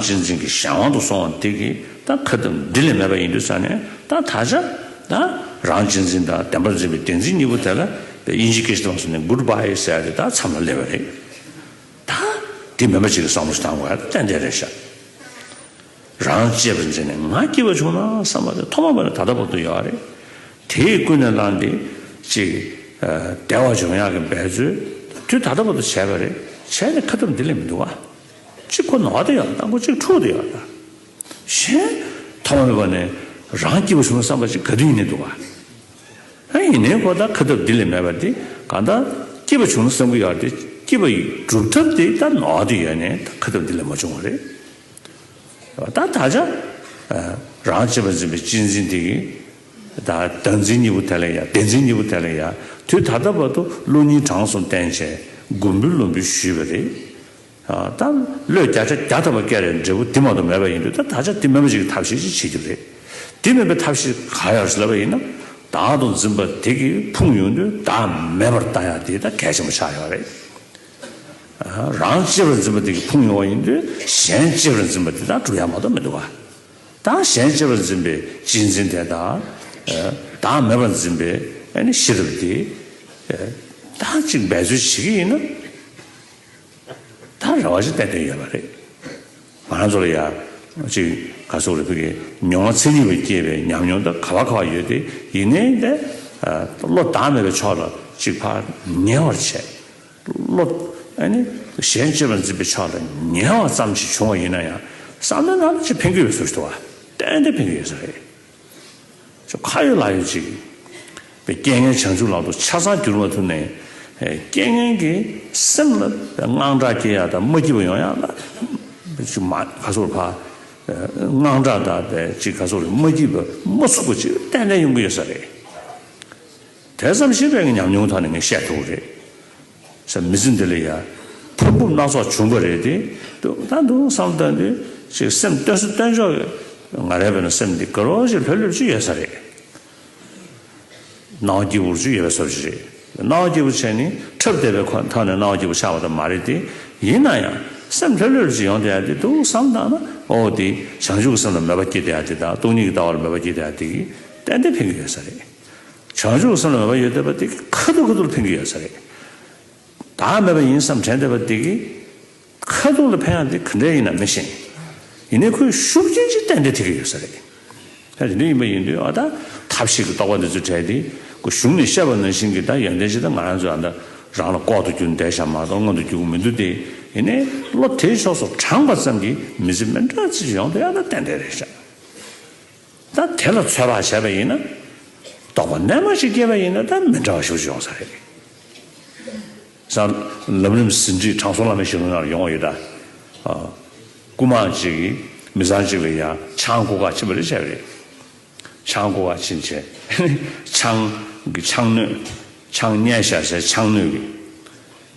སྤྱི་མཚན་གྱི་གཞན་དབང་དུ་སོང་བ་དེ་གི་ད་ཁ་བཏུམ་འདི་ལས་མེད་པ་ཡིན་དུས་ས་ནས་ད་ད་ཆ་ད་རང་སྤྱི་མཚན་དང་བདེན་པར་འཛིན་པའི་བདེན་འཛིན་གཉིས་པོ་དེ་ལ་དབྱིན་ཇི་ཀི་ཞི་ཏོང་སོ་ནི་གུར་བྷ་ཧེ་ཟེར་ཡ་དེ་ད་མཚམས་ལ་སླེབས་པ་རེད། ད་འདི་མེད་པ་ཅིག་གི་བསམ་བློ་ཞིག་བཏང་དགོས་ཡ་ཏན་ཏན་རེད་ཤག། རང་གཅེས་པར་འཛིན་ནས་ང་སྐྱིད་པ་བྱུང་ན་བསམ་པ་དེ་ཐོག་མ་པ་ནས་ད་ལྟ་བར་དུ་ཡོད་རེད། དེས་ཀུན་ནས་བསླངས་ཏེ་ཅིག་བདེ་བ་འབྱུང་ཡག་གི་འབད་རྩོལ་དུས་ད་ལྟ་བར་དུ་བྱས་པ་རེད་བྱས་ནས་ཁ་བཏུམ་འདི་ལས་མི་འདུག་ཨ། གཅིག་ཁོ་ནོག་དེ་ཡང་དང་པོ་གཅིག་འཁྲུགས་དེ་ཡང་གཞན། ཐ་མ་མེད་པ་ནི་རང་སྐྱེས་བུ་བྱུང་བསམ་པ་ཅིག་ག་དུས་ཡིན་ནས་འདུག་བ། ཨ་ཡིན་ནའི་ཁོ་ད་ཁ་ཐབས་འདི་ལས་མེད་པ་དེ་གང་ད་སྐྱེས་པ་བྱུང་ན་བསམ་གི་ཡོད་དེ་སྐྱེས་པ་ཡི་གྲུབ་ཐབས་དེ་ད་ནོག་དེ་ཡོད་ནས་ད་ཁ་ཐབས་འདི་ལས་མ་བྱུང་བ་རེད། ད་ད་ཆ་རང་བྱེད་པ་འཛིན་པའི་སྤྱི་འཛིན་དེ་གི་ད་བདག་འཛིན་གཉིས་པོ་དེ་ལས་ཡ་བདེན་འཛིན་གཉིས་པོ་དེ་ལས་ཡ་དུས་ད་ལྟ་བར་དུ་ཀླུ་གཉིས་དྲང་སོང་བསྟན་བྱས་མགོ་འབུལ་བློ་འབུལ་ཞུས་པ་རེད། ད་བློས་བརྒྱ་ཆ་བརྒྱ་ཐོབ་པ་སྐད་རེད་འབྲས་བུ་དེ་མ་གཏོགས་མེད་པ་ཡིན་དུས་ད་ད་ཆ་དེ་མེད་པ་ཞིག་གི་ཐབས་ཤེས་ཅི་བྱེད་རྒྱུ་རེད། དེ་མེད་པའི་ཐབས་ཤེས་གང་ཡང་བྱེད་ལབ་པ་ཡིན་ན། བདག་དང་འཛིན་པ་དེ་གིས་ཕུང་ཡོང་དུས་བདག་མེད་པར་བལྟ་ཡག་དེ་ད་གལ་ཆེན་པོ་ཆགས་ཡོད་རེད། རང་གཅེས་པར་འཛིན་པ་དེ་གིས་ཕུང་ཡོང་བ་ཡིན་དུས་གཞན་གཅེས་པར་འཛིན་པ་དེ་དང་གྲུབ་ཡག་མ་གཏོགས་མི་འདུག་ག། ད་གཞན་གཅེས་པར་འཛིན་པའི་གཅེས་འཛིན་དེ་དང། བདག་མེད་པར་འཛིན་པའི་ཤེས་རབ་དེ། ད་གཅིག་འབད་རྩོལ་བྱེད་ཀྱི་ཡིན་ན། ད་རེ་བ་ཞིག་བསྟན་དོན་ཡོད་པ་རེད། ང་རང་ཚོ་ལ་ཡང་ཅིག་ག་སོག་རེ་ཕུལ་གི་མྱོང་བ་ཚད་ལྡན་བས་སྐྱེས་པའི་ཉམས་མྱོང་དང་ག་བ་ག་བ་ཡོད་དེ་ཡིན་ནའི་ད་བློ་བདག་མེད་པའི་ཕྱོགས་ལ་ཅིག་ཕར་ཉལ་བར་བྱས། བློ་གཞན་གཅེས་པར་འཛིན་པའི་ཕྱོགས་ལ་ཉལ་བ་ཙམ་ཞིག་བྱུང་བ་ཡིན་ན་ཡང་བསམ་བློའི་ནང་ན་ཅིག་འཕེན་གྱི་ཡོད་ཟུར་ཞིག་ཏུ་བ་ཏན་ཏན་འཕེན་གྱི་ཡོད་ས་རེད། ཁྱོད་ཁ་ཡོད་ལག་ཡོད་ཅིག། པའི་རྐྱེན་ངན་བྱང་ཆུབ་ལག་ཏུ་ཆ་ཚང་གྱུར་པ་ཐུབ་ནས། རྐྱེན་ངན་གྱི་སེམས་ལ་དངངས་སྐྲག་སྐྱེ་ཡག་དང་མ་སྐྱིད་པ་ཡོང་ཡག་ལ། ཅིག་མ་ག་སོགས་ལ་ཕ། དངངས་སྐྲག་དང་པའི་ཅིག་ག་སོགས་ལ་མ་སྐྱིད་པ་མ་ཚུགས་པ་ཅིག་ཏན་ཏན་ཡོང་གི་ཡོད་ས་རེད། དེ་ཙམ་ཞིག་རེད་ངས་ཉམས་མྱོང་ཐོག་ནས་ངས་བཤད་ཐུབ་རེད། བྱ་མི་ཚེ་འདི་ལ་ཡང་ཕུང་པོ་སྣ་ཚོགས་བྱུང་པ་རེད་དེ། དུས་གང་དུ་བསམ་བློ་བཏོན་དུས་ཤིག་སེམས་བཏོན་སུ་བཏོན་ཆོག་གི། ང་རེ་བས་ན་སེམས་འདི་དགའ་རོགས་ཤིག་ལྷོད་ལྷོད་ཅིག་ཡོད་ས་རེད། གནའ་བོ་སྐྱིད་པོ་ཅིག་ཡོད་ས་རེད། གནའ་བོ་སྐྱིད་པོ་བྱས་ནི་འཁྲབ་བསྡད་པའི་ཁོ་ཐག་ནས་གནའ་བོ་སྐྱིད་པོ་ཆགས་པ་དང་མ་རེད་དེ། ཡིན་ན་ཡང་སེམས་ལྷོད་ལྷོད་ཅིག་ཡོང་བསྡད་ཡ་དེ་དུག་བསམ་བཏང་ན་ཨོ་དེ་བྱང་ཆུབ་ཀྱི་སེམས་ལ་མོས་པ་སྐྱེས་བསྡད་ཡ་དེ་དང་སྟོང་ཉིད་ཀྱི་ལྟ་བ་ལ་མོས་པ་སྐྱེས་བསྡད་ཡ་དེ་གིས་ཏན་ཏན་ཕན་གྱི་ཡོད་ས་རེད། བྱང་ཆུབ་སེམས་ལ་མོས་པ་ཡོད་བསྡད་པ་དེ་གིས་ཁ་ཐུར་ཁ་ཐུར་འཕེན་གྱི་ཡོད་ས་རེད། བདག་མེད་པ་ཡིན་བསམ་དྲན་བསྡད་པ་དེ་གིས་ཁ་ཐུར་ལ་འཕེན་ཡག་དེ་ག་འདྲས་ཡིན་ནམ་མི་ཤེས། ཡིན་ནའི་ཁོའི་ཤུགས་རྐྱེན་གྱིས་གཏན་བདེ་ཐེབས་ཀྱི་ཡོད་ས་རེད། ད་དེ་འདྲ་ཡིན་པ་ཡིན་དུས་ཨ་ད་ཐབས་ཤེས་ཀྱི་རྟོག་པ་འདི་ཚོ་བྲལ་ཏེ་ཁོ་གཞུང་ནས་བཤད་པ་ནང་བཞིན་གྱི་ད་ཡོན་ཏན་ཅིག་ད་ང་རང་ཚོས་ཨ་ད་རང་ལ་ལྐོག་ཏུ་གྱུར་འདས་ཤག་མ་གཏོགས་སྔོན་དུ་རྒྱུག་གི་མི་འདུག་སྟེ་ཡིན་ནའི་བློ་དེའི་ཕྱོགས་སུ་དྲངས་པ་ཙམ་གྱིས་མི་ཚེ་མི་འདྲ་ཚིག་ཅིག་ཡོང་དུས་ཨ་ད་གཏན་བདེ་རེད་ཤག། ད་དེ་ལ་ཚོད་དཔག་བྱས་པ་ཡིན་ན། རྟོག་པ་རྣལ་མ་ཞིག་སྐྱེས་པ་ཡིན་ན་ད་མི་འདྲ་བ་ཞིག་ཏུ་ཡོང་ས་རེད། སང་ལམ་རིམ་ཟིན་བྲིས་དྲང་སྲོང་བླ་མའི་ཞལ་ལུང་ཡང་ཡོང་བ་ཡོད། རྐུན་མ་གཅིག་གིས་མི་བཟང་གཅིག་ལ་ཡང་ཆང་བསྐུར་ཁ་ཕྱིན་པ་རེད་བྱས་པ་རེད། ཆང་བསྐུར་ཁ་ཕྱིན་བྱས་ནས་ཆང་གི་ཆང་སྣོད་ཆང་བསྙལ་བཞག་བྱས་ཆང་སྣོད་ཀྱི།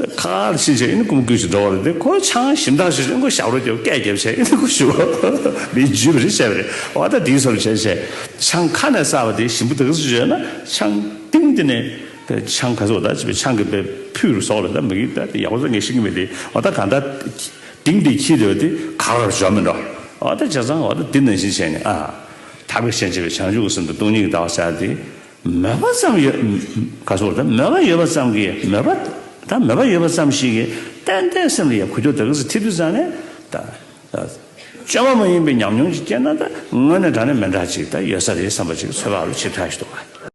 ཁ་ཁར་ཕྱིན་བྱས་ཨིན་ཀུ་མུ་ཀུའི་ཞིག་འགྲོ་བ་རེད་དེ་ཁོའི་ཆང་ཞིམ་ཐང་ཞིག་ཨིན་ཀུ་ཞབས་རོ་རྒྱབ་སྐད་རྒྱབ་བྱས་ཨིན་ཀུ་ཞུ་མིའི་རྒྱུད་པ་རེད་བཤད་པ་རེད་བ་ད་དེའི་སོར་བྱས་བྱས་ཆང་ཁ་ནས་བསགས་པ་དེ་ཞིམ་པོ་དག་ཟིག་བྱས་ན་ཆང་སྟེང་དེ་ནས་དེ་ཆང་ག་ཟིག་བ་ད་བྱས་པའི་ཆང་གི་པའི་ཕུད་རུ་ཟོག་ལ་ད་མིག་ད་དེ་ཡག་པོ་ཟ་ངེས་ཤེས་ཀྱི་མེད་དེ་བ་ད་གང་ད་སྟེང་དེ་ཁྱི་རེད་བ་དེ་ག་ར་བྱོ་མི་འགྲོ་བ་ད་བྱས་ཙང་བ་ད་དེ་ནང་བཞིན་བྱས་ནས་ཨ། ད་བས་བྱས་བྱས་པའི་ཆང་ཞུགས་གསུམ་དང་སྟོང་ཉིས་ཀྱི་ད་བ་བསགས་དེ། མོས་པ་ཙམ་ཡོད། ག་སོགས་དང་མོས་པ་ཡོད་པ་ཙམ་གྱིས་མོས་པ་དང་མོས་པ་ཡོད་པ་ཙམ་ཞིག་གིས་གཏན་བདེའི་སེམས་ལ་ཡང་གུད་དུ་དག་གིས་ཐིབས་དུ་བཙལ་ནས་ད། བཅོས་མ་མ་ཡིན་པའི་ཉམས་མྱོང་ཅིག་སྐྱེས་ན་ད་དངོས་གནས་དྲང་ནས་མི་འདྲ་ཅིག་ད་ཡོད་ས་རེད་བསམ་པ་ཅིག་འཚོལ་བ་ལ་ཆེས་ཕྲ་ཞིག་འདུག་ག།